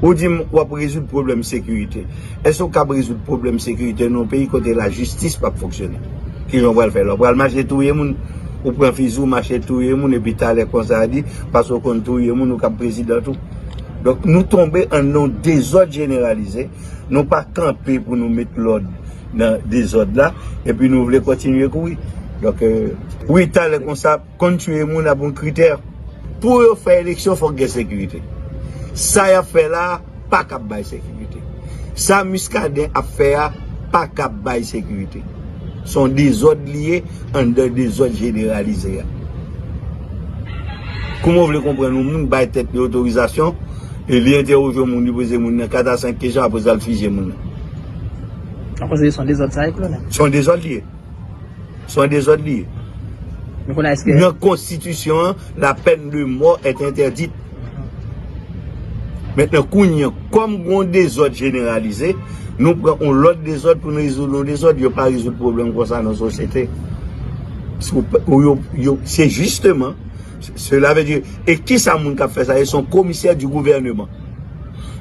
Ou di m wap rezoud pwoblèm sekirite. Èske ou kab rezoud pwoblèm sekirite nan yon peyi kote lajistis pap fonksyone? Ki jan ou pral fè la? Ou pral mache touye moun? Ou pran fizi ou mache touye moun epi talè konsa di paske ou konn touye moun ou kab prezidan tou? Donk nou tonbe ann yon dezòd jeneralize, nou pa kanpe pou nou met lòd nan dezòd la epi nou vle kontinye kouri. Donk wi talè konsa. Konn tuye moun ap yon kritè. Pou yo fè eleksyon fòk gen sekirite. Sa yap fè la pa kap bay sekirite. Sa Muscadin ap fè a pa kap bay sekirite. Son dezòd li ye anndan dezòd jeneralize a. Kouman w vle konprann yon moun bay tèt li otorizasyon e li entèwoje yon moun, li poze moun nan 4 a 5 kesyon apre sa l fije moun nan? Mwen panse se yon dezòd sa ye kolonèl. Son dezòd li ye. Son dezòd li ye. Nou konnen eske. Nan konstitisyon an, la pèn de mò et entèdit. Mentnan kounye an, kòm gon dezòd jeneralize, nou pran yon lòt dezòd pou nou rezoud yon dezòd. Yo pa rezoud pwoblèm konsa nan sosyete. Se jisteman. Cela veut dire, e kisa moun kap fè sa ye? Son komisè di gouvèneman.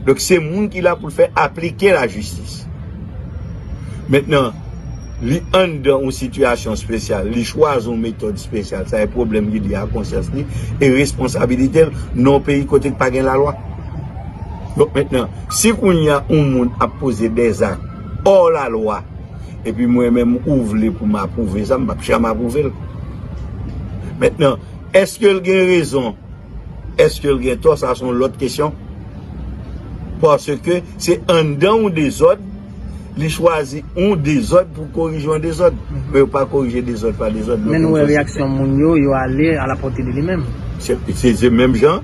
Donk se moun ki la pou l fè aplike la jistis. Mentnan, li anndan yon sitiyasyon spesyal, li chwazi yon metòd spesyal, sa e pwoblèm li, li a konsyans li, e responsabilite l nan yon peyi kote k pa gen lalwa. Donk mentnan, si kounye a yon moun ap poze dèzak, òr lalwa, Epi mwen menm ou vle pou m apwouve sa, m pap janm apwouve l. Mentnan, eske l gen rezon, eske l gen tò, sa s on lòt kesyon. Paske se anndan yon dezòd, li chwazi yon dezòd pou korije yon dezòd. Men yo pa korije dezòd pa dezòd. Men nou wè reyaksyon moun yo, yo ale a la pòte de li menm. Se menm jan.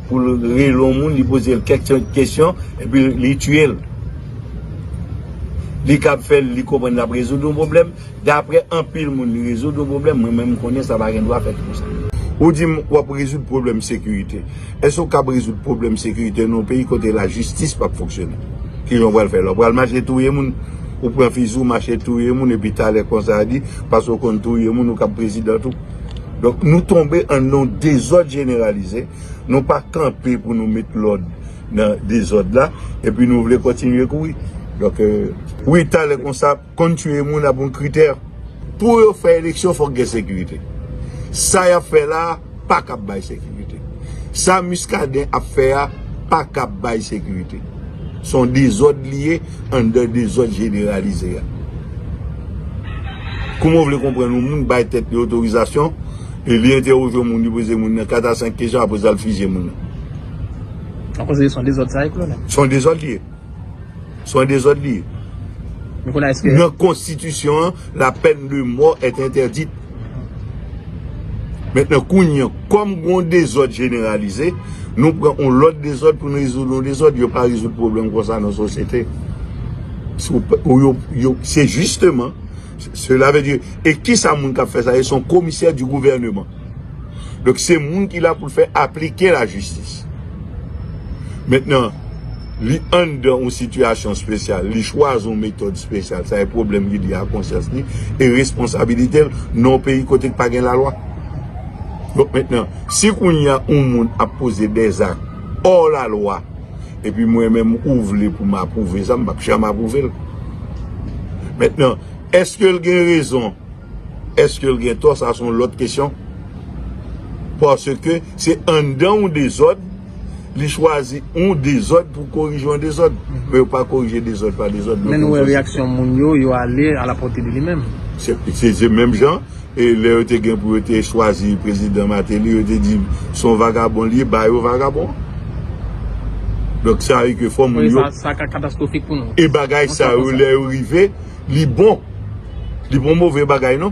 Pou l rele yon moun, li poze l kèk kesyon, epi li tiye l. Li kab fè li konprann l ap rezoud yon pwoblèm. Dapre anpil moun, li rezoud yon pwoblèm. Mwen menm, m konnen sa pa gen dwa fèt konsa. Ou di m, w ap rezoud pwoblèm sekirite. Èske w kab rezoud pwoblèm sekirite nan yon peyi kote lajistis pa p fonksyone? Ki jan w pral fè la? W pral mache touye moun? Ou pran fizi, w mache touye moun, epi talè konsa di, paske w konn touye moun, ou kab prezidan tou? Donk nou tonbe an non dezòd jeneralize, nou pa kanpe pou nou met lòd nan dezòd la, epi nou vle kontinye kouri. Donk wi talè konsa konn tiye moun ap yon kritè. Pou yo fè eleksyon fòk gen sekirite. Sa y ap fè la a pa kab bay sekirite. Sa Muscadin ap fè a pa kab bay sekirite. Son dezòd li ye. Anndan dezòd jeneralize a. Kouman w vle konprann yon moun bay tèt li otorizasyon e li entèwoje yon moun, li poze moun nan 4 a 5 kesyon apre sa l fije moun nan? Ou panse se yon dezòd sa ye, kolonèl? Se yon dezòd li ye. Se yon dezòd li ye. Nan konstitisyon an, la pèn de mò è entèdit. Mentnan kounye an, kòm gon dezòd jeneralize, nou pran yon lòt dezòd pou n rezoud yon dezòd, yo pa rezoud pwoblèm konsa nan sosyete. Se jisteman, sela vle di, e kisa moun k ap fè sa ye? Se yon komisè di gouvèneman. Donk se moun ki la pou l fè aplike lajistis. Mentnan. Li anndan yon sitiyasyon spesyal, li chwazi yon metòd spesyal, sa e pwoblèm li lye a konsyans li e responsabilite l nan yon peyi kote k pa gen lalwa. Donk mentnan, si kounye a yon moun ap poze dè zak ò lalwa, epi mwen menm ou vle pou m apwouve sa, m p ap janm apwouve l. Mentnan, èske l gen rezon, èske l gen tò, sa s on lòt kesyon, paske se anndan yon dezòd, Li chwazi yon dezòd pou korije yon dezòd. Men yo pa korije dezòd pa dezòd. Men nou wè reyaksyon moun yo, yo ale a la pòte de li menm. Se menm jan, lè yo te gen pou yo te chwazi prezidan Mateli, yo te di son vagabon li ye, ba yo vagabon. Donk sa vle di ke fò moun yo. Sa ka katastwofik pou nou. E bagay sa yo lè yo rive, li bon. Li pa yon move bagay non.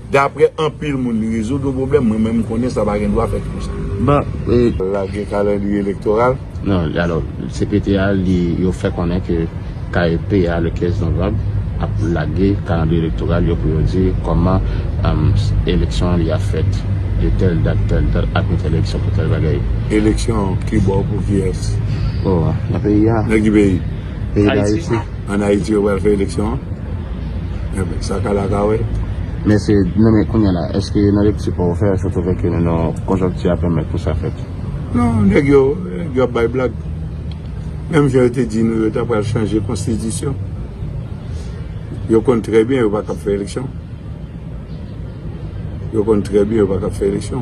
Daprè anpil moun li rezoud yon pwoblèm, mwen menm m konnen sa pa gen dwa fèt konsa. Lage kalandriye elektoral. Non, alò, cpt a li, yo fè konnen ke KEP a le 15 novanb ap lage kalandriye elektoral yo pou yo di kòman eleksyon li ap fèt de tèl dat, tèl dat ak yon tèl eleksyon pou tèl bagay. Eleksyon kibò pou kiyès? Oh, nan peyi a. Nan ki peyi? Peyi Dayiti. An ayiti yo pral fè eleksyon an? Enben sa kale a ka wè. Mèsi Ed. Non men kounya la, èske nan lekti paw ou fè a, sa te vle ke nou nan konjonkti a pèmèt pou sa fèt? Non, nèg yo, nèg yo ap bay blag. Menm jan yo te di nou yo ta pral chanje konstitisyon. Yo konn trè byen yo pa kab fè eleksyon. Yo konn trè byen yo pa ka fè eleksyon.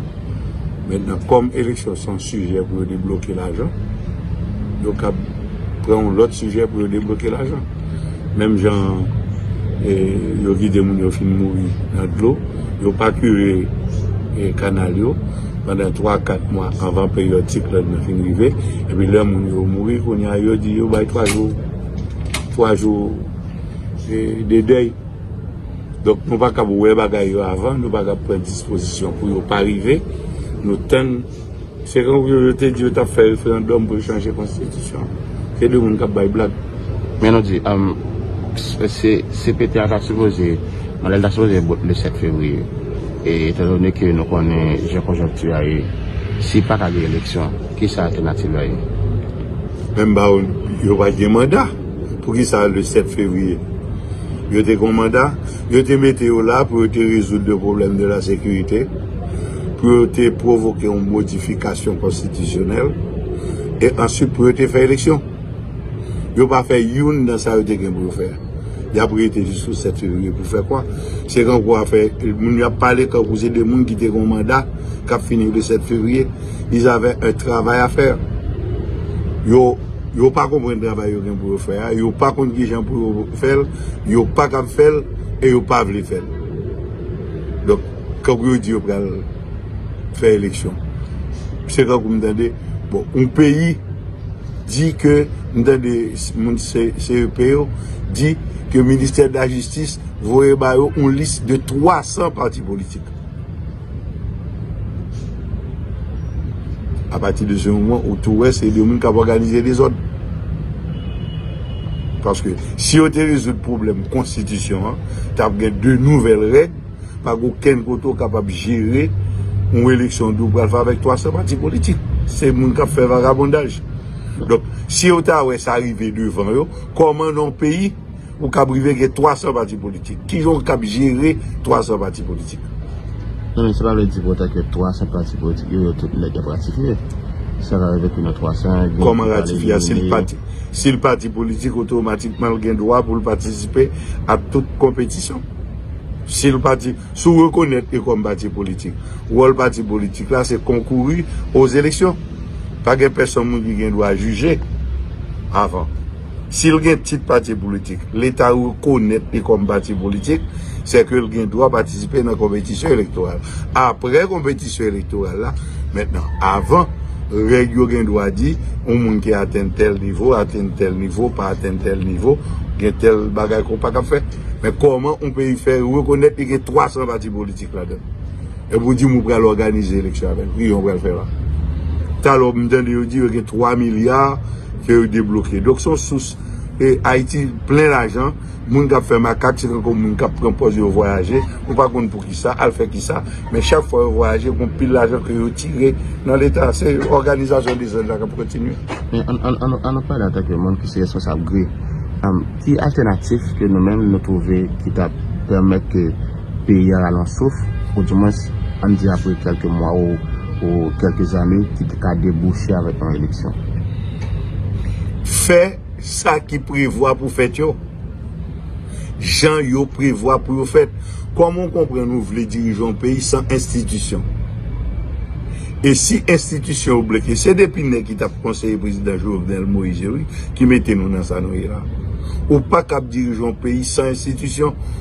Mentnan kòm eleksyon se yon sijè pou yo debloke lajan, yo kab pran yon lòt sijè pou yo debloke lajan. Menm jan yo vide moun yo fin mouri nan dlo, yo pa kire kanal yo pandan 3, 4 mwa anvan peryòd siklòn nan fin rive. Epi lè moun yo mouri kounye a yo di yo bay 3 jou, 3 jou de dèy. Donk nou pa kab wè bagay yo avan, nou pa kab pran dispozisyon pou yo pa rive. Nou tann. Se tankou yo te di yo t ap fè referandòm pou yo chanje konstitisyon an. Se de moun k ap bay blag. Men nou di, CPT a ta sipoze, mandal li ta sipoze bout le 7 fevriye. E etan done ke nou konnen jan konjonkti a ye, si pa ka gen eleksyon, kisa altènativ la ye? Menm ba yo, yo pa gen manda. Poukisa le 7 fevrier yo te gon manda? Yo te mete yo la pou yo te rezoud le pwoblèm de la sekirite, pou yo te pwovoke yon modifikasyon konstitisyonèl, e answit pou yo te fè eleksyon. Yo pa fè youn nan sa yo te gen pou yo fè. Y ap rete jiskou 7 fevrier pou fè kwa? Se kankou afè, moun yo ap pale kankou se de moun ki te gon manda k ap fini le 7 fevrier. Ils avaient un travail à faire. Yo. Yo pa konprann travay yo gen pou yo fè a, yo pa konn ki jan pou yo fè l, yo pa kab fè l e yo pa vle fè l. Donk, kankou yo di yo pral fè eleksyon. Se kankou m tande, bon, yon peyi di ke, m tande moun CEP yo di ke ministè de la jistis voye ba yo yon lis de 300 pati politik. A pati de se moman ou tou wè se de moun kap òganize dezòd. Paske si yo te rezoud pwoblèm konstitisyon an, tap gen de nouvèl règ, pa gen okenn kote ou kapab jere yon eleksyon de ou pral fè avèk 300 pati politik. Se moun kap fè vagabondaj. Donk, si yo ta wè sa rive devan yo, kòman nan yon peyi Ou kab rive gen 300 pati politik. Ki jan ou kab jere 300 pati politik? Non men se pa vle di pou otan ke 300 pati politik yo yo tout nèt yap ratifye. Sa ka rive ke nan 300 gen ki Kòman pa ratifye a? Si l elimine. pati si l pati politik otomatikman l gen dwa pou l patisipe ak tout konpetisyon. Si l pati si w rekonèt li kòm pati politik, wòl pati politik la se konkouri o zeleksyon. Pa gen pèsonn moun ki gen dwa jije avan. Si l gen tit pati politik, Leta rekonèt li kòm pati politik, sè ke l gen dwa patisipe nan konpetisyon elektoral. Apre konpetisyon elektoral la, mentnan, avan, règ yo gen dwa di, yon moun ki atenn tèl nivo, atenn tèl nivo, pa atenn tèl nivo, gen tèl bagay ke w pa kab fè. Men kòman yon peyi fè rekonèt li gen 300 pati politik ladan l? Epi w di m ou pral òganize eleksyon avè l. Ki jan w pral fè la? Talè w m tande yo di yo gen 3 milya. Ke yo debloke. Donk son sous e Ayiti plen lajan, moun kap fè makak se tankou moun kap pran pòz yo vwayaje, ou pa konn poukisa, al fè kisa, men chak fwa yo vwayaje gon pil lajan ke yo tire nan leta, se òganizasyon dezòd la kap kontinye. Men an nou pale antanke moun ki se responsab gri, ki altènatif ke nou menm nou twouve ki tap pèmèt ke Peyi a rale yon souf, ou di mwens, ann di apre kèlke mwa ou kèlke zane, ki te ka debouche avèk yon eleksyon. Fè sa ki prevwa pou fèt yo, jan yo prevwa pou yo fèt. Kòman ou konprann ou vle dirije yon peyi san enstitisyon? E si enstitisyon yo bloke? Se 2 pinè ki t ap konseye prezidan Jovenel Moïse yo wi ki mete nou nan sa nou ye la. Ou pa kab dirije yon peyi san enstitisyon.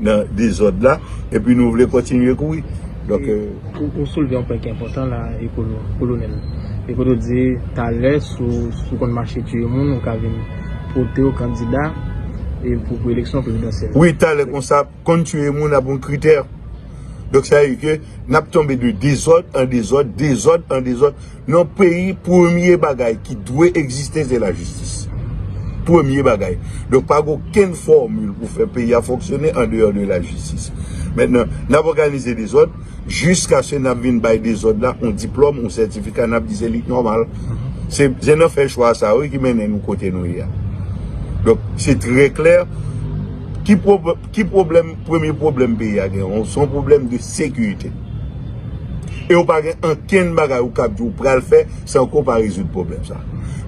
nan dezòd la epi nou vle kontinye kouri donk. Ou soulve yon pwen ki enpòtan la ekolo, kolonèl ekolo di talè si w konn mache tiye moun ou ka vin pote w kandida pou eleksyon prezidansyèl. Wi talè konsa konn tiye moun ap yon kritè donk sa vle di ke n ap tonbe de dezòd an dezòd, dezòd an dezòd. Yon peyi premye bagay ki dwe egziste se la jistis. Premye bagay. Donk pa gen okenn fòmil pou fè peyi a fonksyone an deyò de la jistis. Mentnan, n ap òganize dezòd jiskaske n ap vin bay dezòd la yon diplòm, yon sètifika n ap di se li k nòmal. Se nan fè chwa sa yo wi ki mennen nou kote nou ye a. Donk se trè klè ki pwoblèm, premye pwoblèm peyi a gen se yon pwoblèm de sekirite. E ou pa gen ankenn bagay ou kab di ou pral fè san ke ou pa rezoud pwoblèm sa.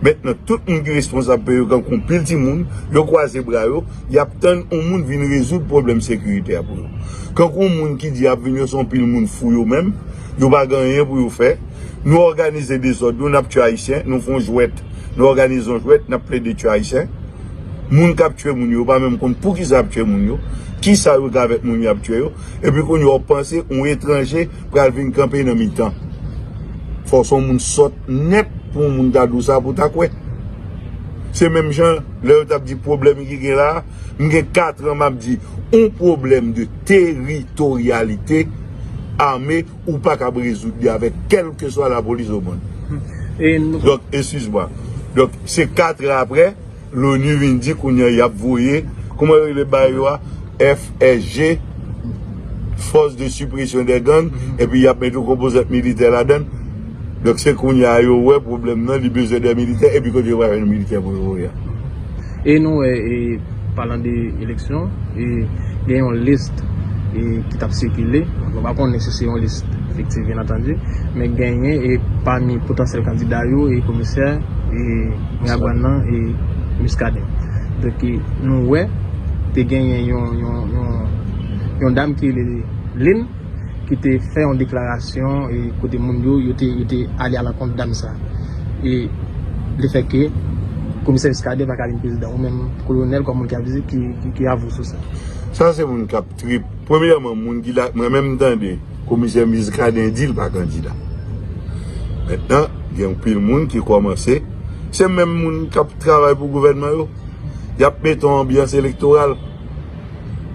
Mentnan tout moun ki responsab peyi yo tankou anpil timoun, yo kwaze bra yo, y ap tann yon moun vin rezoud pwoblèm sekirite a pou yo. Tankou yon moun ki di y ap vin yo se yon pil moun fou yo menm, yo pa gen anyen pou yo fè. Nou òganize dezòd nou, n ap tye Ayisyen, nou fè yon jwèt, nou òganize yon jwèt, n ap plede tye Ayisyen. Moun k ap tye moun yo, yo pa menm konn poukisa y ap tye moun yo, ki sa yo gen avèk moun y ap tye yo. Epi kounye a w panse yon etranje pral vin kanpe nan mitan. Fò w se yon moun sòt nèt pou yon moun ta di w sa pou w ta kwè. Se menm jan lè yo t ap di pwoblèm ki gen la a, m gen katran m ap di yon pwoblèm de teritoryalite ame ou pa kab rezoud li avèk kèlkeswa lapolis omonn. Donk, eskiz mwa. Donk, se katran aprè, Loni vin di kounya yap voye, kouman yo rele bagay yo a, FSG, Force de Suppression des Gangs, epi yap met yon konpozant militè ladann. Donk se kounya a yo wè pwoblèm nan, li bezwen de militè, epi kote yo pral jwenn militè pou yo voye a. E nou wè e palan de eleksyon, e gen yon list e ki tap sikile, nou pa konnen si se yon list efektif byen antandu, men genyen e pami potansyèl kandida yo e komisè e. Gabon nan e Muscadin. Donk nou wè te genyen yon dam ki rele Lynn ki te fè yon deklarasyon e kote moun yo yo te ale alankont dam sa. E le fè ke komisè Muscadin pa ka vin prezidan ou menm kolonèl kòm moun ki ap vize ki avou sou sa. Sa se moun kap. Trip. Premyèman moun ki la mwen menm tande komisè Muscadin di l pa kandida. Mentnan gen anpil moun ki kòmanse se menm moun k ap travay pou gouvènman yo y ap mete yon anbyans elektoral.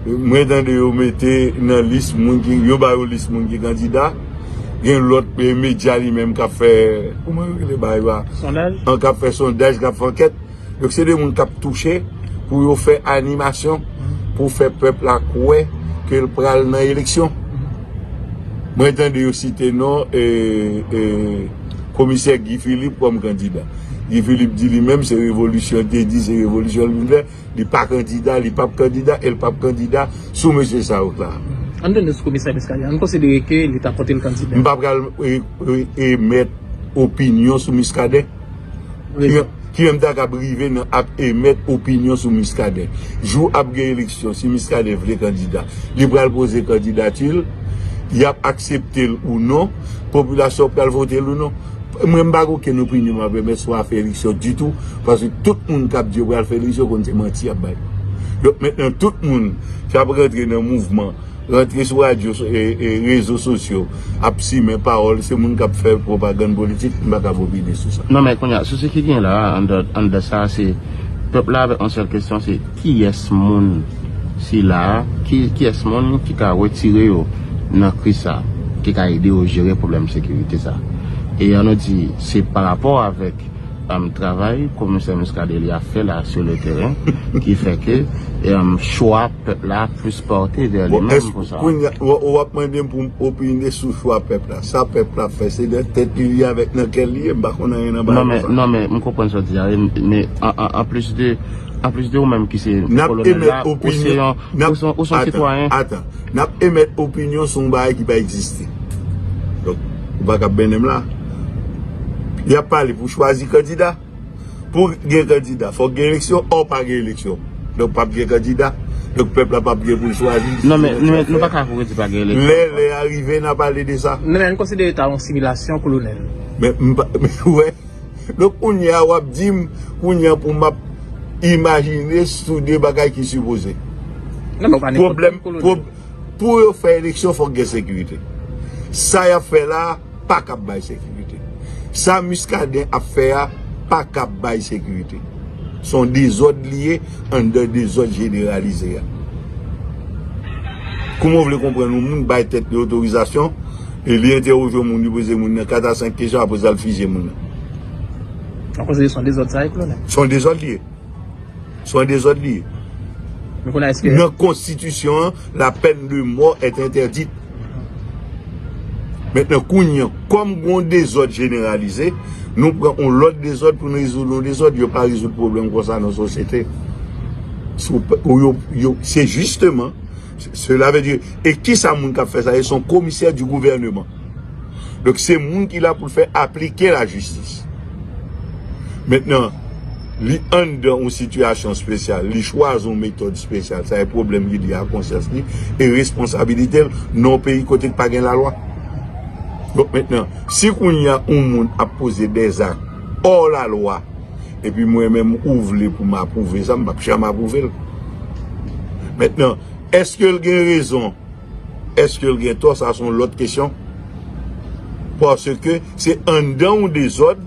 Mwen tande yo mete nan lis moun ki yo bay yon lis moun ki kandida gen lòt medya li menm k ap fè kouman yo rele bagay yo a an k ap fè sondaj k ap fè ankèt. Donk se 2 moun kap touche pou yo fè animasyon pou fè pèp la kwè ke l pral nan eleksyon. Mwen tande yo site non komisè Guy Philippe kòm kandida. Guy Philippe di li menm se revolisyon l te di, se revolisyon l vin fè, li pa kandida, li pap kandida e l pap kandida sou mesye sa yo k la. An n tande sou komisè Muscadin, an n konsidere ke li ta pote l kandida. M pa pral emèt opinyon sou Muscadin. ki menm ta kab rive nan ap emèt opinyon sou Muscadin. Jou ap gen eleksyon, si Muscadin vle kandida, li pral poze kandidati l, y ap aksepte l ou non, popilasyon pral vote l ou non. Mwen m pa gen okenn opinyon m ap emèt sou afè eleksyon ditou, paske tout moun k ap di yo pral fè eleksyon konn se manti y ap bay. Donk mentnan tout moun k ap rantre nan mouvman. Rantre sou radyo e rezo sosyo ap simen pawòl se moun kap fè pwopagann politik m pa kab opine sou sa. Non men kounya sousi ki gen la anndan sa se pèp la avèk yon sèl kesyon se kiyès moun sila kiyès moun ki ka wetire yo nan kriz sa ki ka ede yo jere pwoblèm sekirite sa e an nou di se pa rapò avèk travay komisè Muscadin li ap fè la sou le teren ki fè ke chwa Pèp la ap plis porte vers li menm pou sa. Bon, èske kounya ou ap mande m pou m opine sou chwa pèp la? Sa pèp la ap fè, se nan tèt li li ye avèk nan kè l li ye, m pa konn anyen nan bagay konsa. Non men, m konprann sa w di a, men an plis de, an plis de ou menm ki se kolonèl la, ou se yon, ou se yon sitwayen. Atan, n ap emèt opinyon sou yon bagay ki pa egziste. Donk, ou pa ka benen m la. Y ap pale pou chwazi kandida. Pou gen kandida fòk gen eleksyon or pa gen eleksyon. Donk pap gen kandida. Donk pèp la pap gen pou l chwazi. Non men nou pa ka vre di pa gen eleksyon. Lè lè a rive n a pale de sa. Non men nou konsidere ta yon similasyon kolonel. Men m pa ou wè. Donk kounye a wap di m kounye a pou m ap imajine sou de bagay ki sipoze. Non men ou pa nenpòt moun kolonel. Pou yo fè eleksyon fòk gen sekirite. Sa y ap fè la. pa kap bay sekirite. Sa Muscadin ap fè a pa kap bay sekirite. Son dezòd li ye anndan dezòd jeneralize a. Kouman w vle konprann yon moun bay tèt li otorizasyon e li entèwoje yon moun, li poze moun nan 4 a 5 kesyon apre sa l fije moun nan? Donk ou di son dezòd sa ye kolonèl? Son dezòd li ye. Son dezòd li ye. Men kounye a eske. Nan konstitisyon an, la pèn de mò èt entèdit. Mentnan kounye an, kòm gen yon dezòd jeneralize, nou pran yon lòt dezòd pou n rezoud yon dezòd. Yo pa rezoud pwoblèm kon sa nan sosyete. Se jisteman, sela vle di, e ki sa moun k ap fè sa ye? Se yon komisè di gouvèneman. Donk se moun ki la pou l fè aplike lajistis. Mentnan. Li anndan yon sitiyasyon spesyal, li chwazi yon metòd spesyal, sa e pwoblèm li li a konsyans li e responsabilite l nan yon peyi kote k pa gen lalwa. Donk mentnan, si kounye a yon moun ap poze dè zak ò lalwa, epi mwen menm ou vle pou m apwouve sa, m p ap janm apwouve l. Mentnan, èske l gen rezon, èske l gen tò, sa s on lòt kesyon, paske se anndan yon dezòd,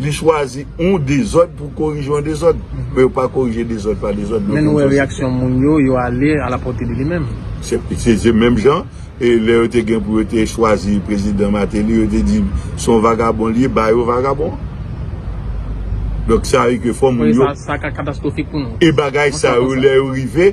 Li chwazi yon dezòd pou korije yon dezòd. Men yo pa korije dezòd pa dezòd. Men nou wè reyaksyon moun yo, yo ale a la pòte de li menm. Se menm jan, e lè yo te gen pou yo te chwazi prezidan Mateli, yo te di se yon vagabon li ye, ba yo vagabon an. Donk sa vle di ke fò moun yo. Sa ka katastwofik pou nou. E bagay sa yo lè yo rive.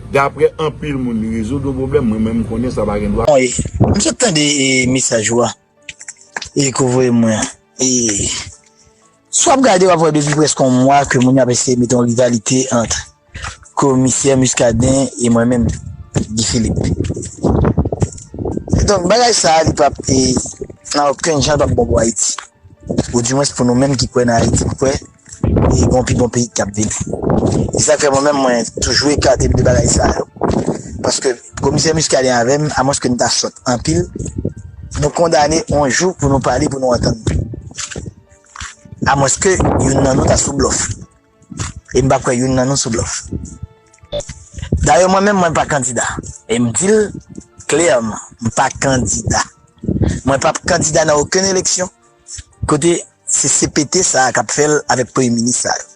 Daprè anpil moun li rezoud yon pwoblèm mwen menm m konnen sa pa gen dwa. Bon e m sot tande e mesaj ou a e ke w voye mwen an e si w ap gade w ap wè depi prèske yon mwa ke moun yo ap eseye mete yon rivalite ant komisè Muscadin e mwen menm Guy Philippe donk bagay sa a li p ap e nan okenn jan li p ap bon pou Ayiti ou di mwens pou nou menm ki kwè nan Ayiti m kwè E gon pi bon peyi kap vini. Se sak fè mwen menm mwen toujou ekatem de bagay sa yo. Paske komisè Muscadin avèm a mwens ke nou ta sòt anpil nou kondane on jou pou nou pale pou nou antann nou. A mwens ke youn nan nou ta sou blòf. E m pa kwè youn nan nou sou blòf. Dayè mwen menm mwen pa kandida. E m dil klèman m pa kandida. Mwen pap kandida nan okenn eleksyon Kote se CPT sa a kap fèl avèk premye minis sa yo.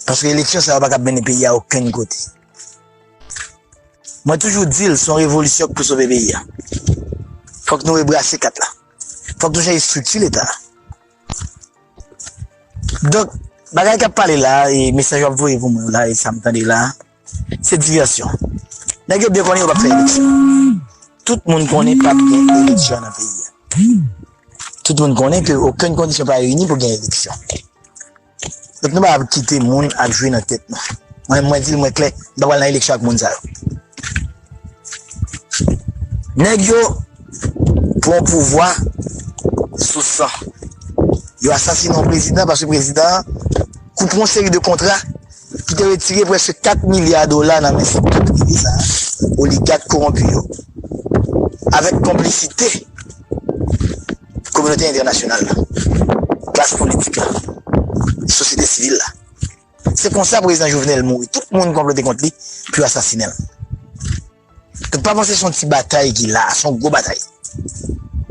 Paske eleksyon sa yo pakab mennen peyi a okenn kote. Mwen toujou di l son revolisyon k pou sove peyi a. Fòk nou rebrase kat la. Fòk nou chanje estrikti leta a. Donk bagay kap pale la e mesaj wap voye pou mwen yo la e sa m tande la. Se diversion. Nèg yo byen konnen yo pap fè eleksyon. Tout moun konnen pap gen eleksyon nan peyi a. Tout moun konnen ke okenn kondisyon pa reyini pou gen eleksyon. Donk nou pa ap kite moun ap jwe nan tèt nou. Mwen menm mwen di l mwen klè, m pa pral nan eleksyon ak moun sa yo. Nèg yo pran pouvwa sou san. Yo asasine yon prezidan paske prezidan an koupe yon seri de kontra. Li te retire prèske 4 milya dola nan men sektè prive sa a, oligak kowonpi yo, avèk konplisite kominote entènasyonal la, klas politik la, sosyete sivil la. Se konsa Prezidan Jovenel mouri, tout moun konplote kont li pou yo asasinen l. Nou pa panse se yon ti batay ki la a, se yon gwo batay.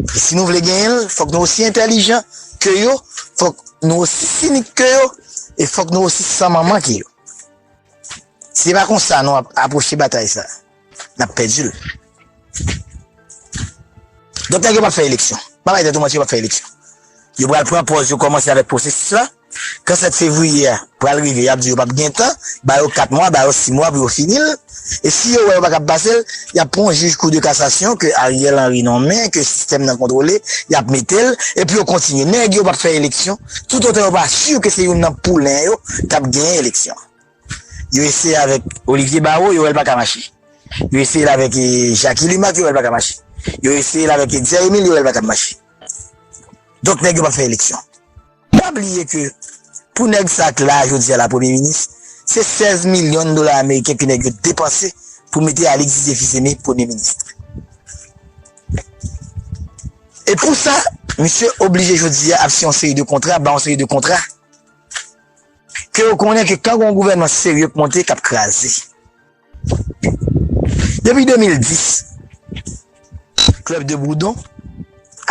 E si nou vle genyen l, fòk nou osi entèlijan ke yo, fòk nou osi sinik ke yo, e fòk nou osi san manman ke yo. Si se pa konsa nou ap apwoche batay sa a, n ap pèdi l. Donk nèg yo p ap fè eleksyon. Pa bay tèt ou manti yo p ap fè eleksyon. Yo pral pran pòz yo kòmanse avèk pwosesis la. Kan 7 fevriye a pral rive yap di yo pap gen tan, ba yo 4 mwa, ba yo 6 mwa pou yo fini l, e si yo wè yo pa kab pase l, yap pran yon jij kou de kasasyon ke Ariel Henry nonmen, ke sistèm nan kontwole, yap mete l, epi yo kontinye. Nèg yo pap fè eleksyon tout otan yo pa sur ke se youn nan poulen yo kap genyen eleksyon. Yo eseye avèk Olivier Barreau, yo wè l pa ka mache. Yo eseye l avèk Jacky Lumaque, yo wè l pa ka mache. Yo eseye l avèk Etzer Emile, yo wè l pa kab mache. Donk nèg yo pap fè eleksyon. Pa bliye ke pou nèg sa k la jodi a la premye minis, se 16 milyon dola ameriken ke nèg yo depanse pou mete Alix Didier Fils-Aimé premye ministre. E pou sa, misye oblije jodi a ap siyen yon seri de kontra, bay yon seri de kontra ke yo konnen ke kan gen yon gouvènman serye k monte k ap kraze. Depi 2010, Club de Bourdon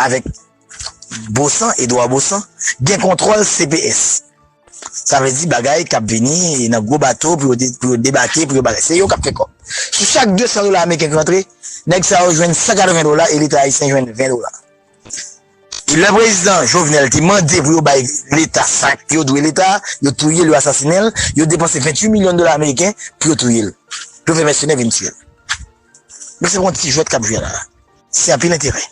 avèk Bosan, Edouard Bosan, gen kontwòl cps. Sa vle di bagay k ap vini nan gwo bato pou yo debake, pou yo bagay. Se yo k ap fè kòb. Sou chak 200 dola ameriken ki rantre, nèg sa yo jwenn 180 dola e leta ayisyen jwenn 20 dola. E lè prezidan Jovenel te mande pou yo bay leta sa yo dwe leta a, yo touye l, yo asasinen l, yo depanse 28 milyon dola ameriken pou yo touye l, pou yo fè mèsenè vin tiye l. Donk se pa yon ti jwèt k ap jwe la a. Se anpil enterè.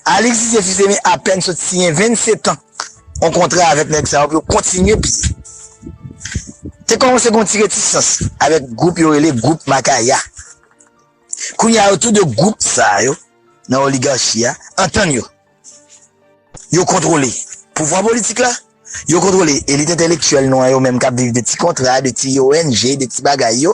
Alix Didier Fils Aimé apèn sot siyen 27 an yon kontra avèk nèg sa yo pou yo kontinye piye. Te kòmanse gen yon ti retisans avèk gwoup yo rele gwoup Makaya. Kounye a yo tou 2 gwoup sa yo nan oligarchi a antann yo. Yo kontwole pouvwa politik la, yo kontwole elit entèlektyèl nou an yo menm k ap viv de ti kontra, de ti ong, de ti bagay yo.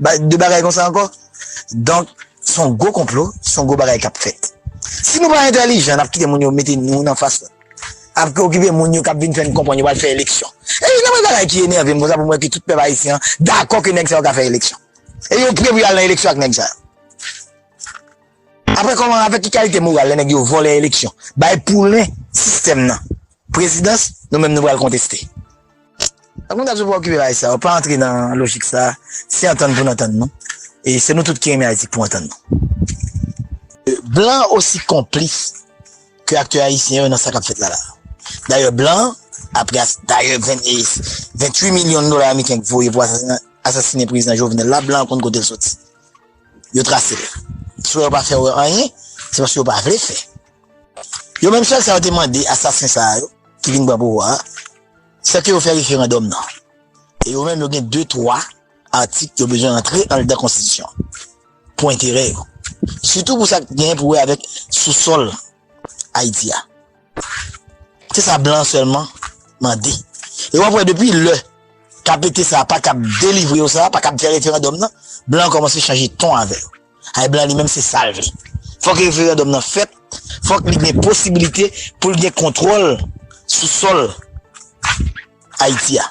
Bay de bagay konsa ankò. Donk son gwo konplo, son gwo bagay kap fèt. Si nou pa entèlijan nap kite moun yo mete nou nan fas la. Ap preokipe moun yo kap vin fèn konprann yo pral fè eleksyon. E youn nan premye bagay ki enèvem konsa poum wè ke tout pèp ayisyen an dakò ke nèg sa yo ka fè eleksyon. E yo pre pou yo al nan eleksyon ak nèg sa yo. Aprè kòman avèk ki kalite moral lè nèg yo vòlè eleksyon, bay poulen sistèm nan. Prezidans, nou menm nou pral konteste. Ak nou dap sou pa okipe bagay sa yo, pa antre nan lojik sa, se antann pou n antann nou, e se nou tout ki renmen Ayiti pou antann nou. Blan osi konplis ke aktè ayisyen yo nan sa kap fèt la la. Dayè blan, apre as, dayè 28 milyon dola ameriken k voye pou asasina, asasine prezidan Jovenel la, blan konn kote l soti. Yo trase l. Si w wè yo pa fè wè anyen, se paske yo pa vle fè. Yo menm sèl sa yo te mande asasen sa yo ki vin pran pouvwa a, se ke yo fè referandòm nan. E yo menm yo gen de twa atik yo bezwen antre anldan konstitisyon an pou enterè yo. Sitou pou sa k gen pou wè avèk sousòl Ayiti a. Se sa blan sèlman mande. E w ap wè depi lè KPT sa a pa kab delivre yo sa, pa kab fè referandòm nan, blan kòmanse chanje ton avè yo. Ay blan li menm se sal vle. Fòk referandòm nan fèt, fòk li gen posibilite poul gen kontwòl sou sòl Ayiti a.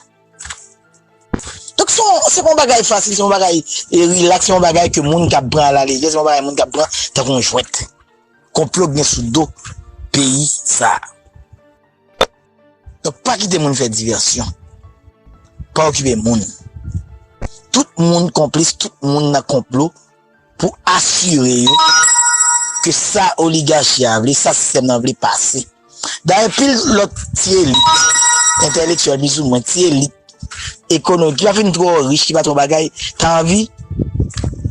Donk se yon se pa yon bagay fasil, se yon bagay rilaks, se yon bagay ke moun kab pran a la lejè, se yon bagay moun kab pran tankou yon jwèt. Konplo k gen sou do peyi sa. Donk pa kite moun fè divèsyon. Pa okipe moun. Tout moun konplis, tout moun nan konplo pou asire yo ke sa oligachi a vle, sa sistèm nan vle pase. Dayè pil lòt ti elit, entèlektyèl pizou mwen, ti elit ekono, ki pa fin twò rich, ki pa twò bagay, ta anvi,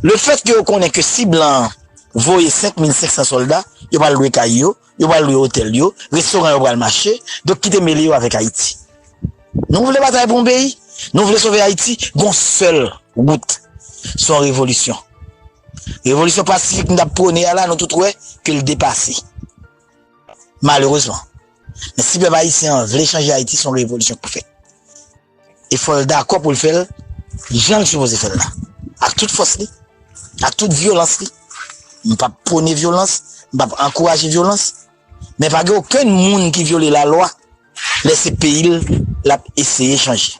le fèt ke yo konnen ke si blan voye 5500 sòlda, yo pral lwe kay yo, yo pral lwe otèl yo, restoran yo pral mache, donk kite mele yo avèk Ayiti. Nou vle batay pou yon peyi, nou vle sove Ayiti, gon sèl wout, se yon revolisyon. Revolisyon pasifik nou t ap pwone a la, nou tout wè ke l depase, malerezman. Men si pèp ayisyen an vle chanje Ayiti, se yon revolisyon k pou fèt. E fòl dakò poul fèl janl sipoze fèl la. Ak tout fòs li. Ak tout vyolans li. M pap pwone vyolans, m pap ankouraje vyolans. Men pa gen okenn moun ki vyole la lwa lè se peyil lap eseye chanje.